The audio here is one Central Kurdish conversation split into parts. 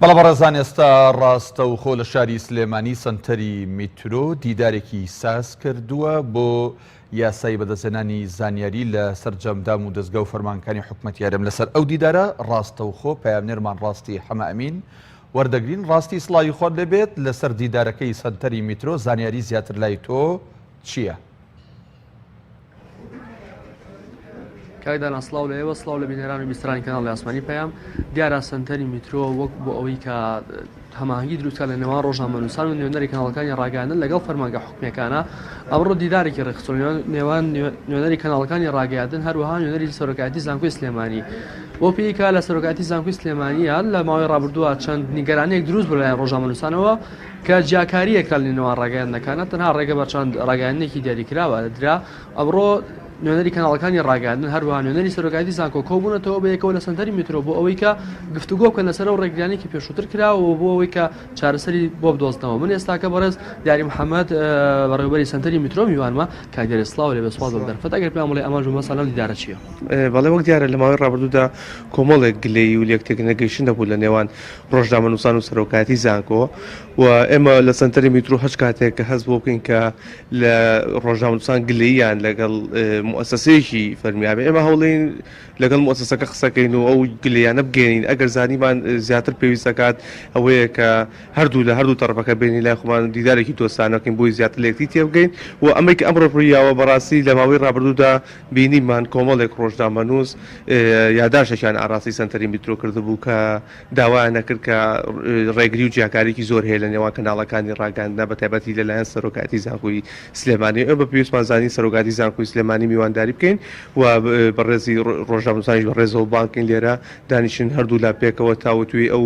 بەڵێ بەڕێزان ئێستا ڕاستەوخۆ لە شاری سلێمانی سەنتەری میترۆ دیدارێکی ساز کردووە بۆ یاسای بەدەستێنانی زانیاری لە سەررجەمدام و دەستگا و فەرمانکانی حکوومەت یارم لەسەر ئەو دیدارە ڕاستەوخۆ پامنێرمان ڕاستی حەمەمین وەردەگرین ڕاستی سڵاوی خۆر دەبێت لەسەر دیدارەکەی سەنتەری میترۆ زانیاری زیاتر لای تۆ چییە؟ کاکدانا سلااو لە ئێوە سلااو لە بینەران و بیسترانی کەناڵ لە ئاسمانی پەیام دیارە سنتەری میترۆ وەک بۆ ئەوەی کە هەماهنگگی دروستکە لە نێوان ڕۆژنامەنووسان و نوێنەری کەناڵەکانی ڕاگەیاندن لەگەڵ فەرمانگە حکومەکانە ئەمڕۆ دیدارێکی ڕێکخستۆ نێوان نوێنەری کەناڵەکانی ڕاگەیاندن هەروەها نوێنەری سەرۆکایەتی زانکۆی سلێمانی بۆ پێیکا لە سەرۆکاتی زانکۆی سلێمانیان لە ماوەی ڕابردووە چەند نیگەرانێک دروست بۆ لایەن ڕۆژنامەنووسانەوە کە جیاکارییەکە لە نێوان ڕاگەیاندنەکانە تەنها ڕێگە بە چەند ڕاگەیاندنێکی دیاریکراوە درا، ئەمڕۆ نوێنەری کەناڵەکانی ڕاگەیاندن هەروەها نوێنەری سەرۆکایەتی زانکۆ کۆبوونەتەوە بەیەکەوە لە سەنتەری میترۆ بۆ ئەوەی کە گفتوگۆ بکەن لەسەر ئەو ڕێگریانەی کە پێشووتر کراوەوە بۆ ئەوەی کە چارەسەری بۆ بدۆزنەوە من ئێستاکە بەڕێز دیاری محەممەد بەڕێوبەری سەنتەری میترۆ میوانمە کاک دیاری سڵاو لێ بێ سوپاس بۆ دەرفەت ئەگەر پێیان بڵێ ئامانج و مەبەستتان لەم دیدارە چییە؟ بەڵێ وەک دیارە لە ماوەی ڕابردوودا کۆمەڵێک گلەیی و لێکتێک نەگەیشتن هەبوو لە نێوان ڕۆژنامەنووسان و سەرۆکایەتی زانکۆ و ئێمە لە سنتەری میترۆ هەچ کاتێک کە هەست بۆ بکەین کە لە ڕۆژنامەنووسان گلەییان لەگەڵ موسەسەیەکی فەرمیابێ ئێمە هەوڵین لەگەڵ موسەسەکە قسەکەین و ئەو گلەیانە بگەین ئەگەر زانیمان زیاتر پێویستەکات ئەوەیە کە هەردوو لە هەردوو تەرەفەکە بینی لای خۆمان دیدارێکی دۆستانەکەین بۆی زیاتر لەکتی تێبگەین و ئەمریکا ئەمڕۆ ڕوویاوە بەڕاستی لە ماوەی ڕابردوودا بینیمان کۆمەڵێک ڕۆژنامەنووس یاداشتێکیان ئاراستەی سەنتەری میترۆ کردبوو کە داوایان نەکرد کە ڕێگری و جیاکارێکی زۆر هەیە لە نێوان کەناڵەکانی ڕاگەاندنا بە تایبەتی لەلایەن سەرۆکایەتی زانکۆی سلێمانی ئەو بە پێویستمان زانی سەرۆکاتی زانکۆی سلێمانی میوانداری بکەین و بەڕێزی ڕۆژنامەنووسانیش بە ڕێزەوە بانکەین لێرە دانیشن هەردوولا پێکەوە تاوتوێی ئەو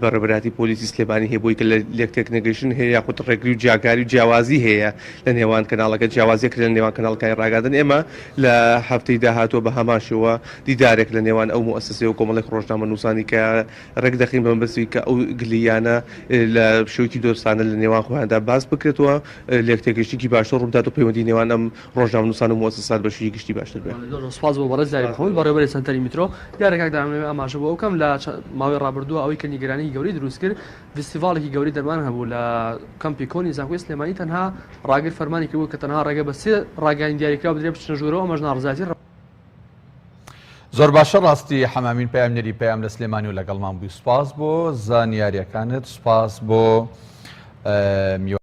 بە ڕێبەرایەتی پۆلیسی سلێمانی هەیە بۆی کە لە لێک تێکنەگەیشتن هەیە یاخود ڕێگری و جیاکاری و جیاوازی هەیە لە نێوان کەناڵەکە جیاوازیەک لە نێوان کەناڵکانی ڕاگەاندن ئێمە لە هەفتەی داهاتووە بە هەمان شێوە دیدارێک لە نێوان ئەو موئەسەسەی و کۆمەڵێک ڕۆژنامە نووسانی کە ڕێک دەخین بە مەبەستی کە ئەو گلیانە لە شێوەکی دۆستانە لە نێوان خۆیاندا باس بکرێتەوە لێک تێگەیشتنی باشتر ڕووبدات و پەیوەندی نێوان ئەم ڕۆژنامەنووسان و موئەسەسات بەشیی گشتی باشتر بێ. زۆر زۆر سوپاس بۆ بەڕێز یاری محمود بەڕێوەبەری سەنتەری میترۆ. دیارە کاک دام لەوێ ئاماژە بۆ ئەوە بکەم لە ماوەی ڕابردووە ئەوەی کە نیگەرانیی گەورەی دروست کرد ڤیستیڤاڵێکی گەورەی دەرمان هەبوو لە کەمپی کۆنی زانکۆی سلێمانی تەنها ڕاگر فەرمانی کردبوو کە تەنها ڕێگە بە سێ ڕاگەیاندی دیاریکراو بدرێت بچنە ژوورەوە ئەمەش ناڕەزایەتی زۆر باشە ڕاستی حەمامین پەیامنێری پەیام لە سلێمانی و لەگەڵمان بووی سوپاس بۆ زانیاریەکانت سوپاس بۆ میوان.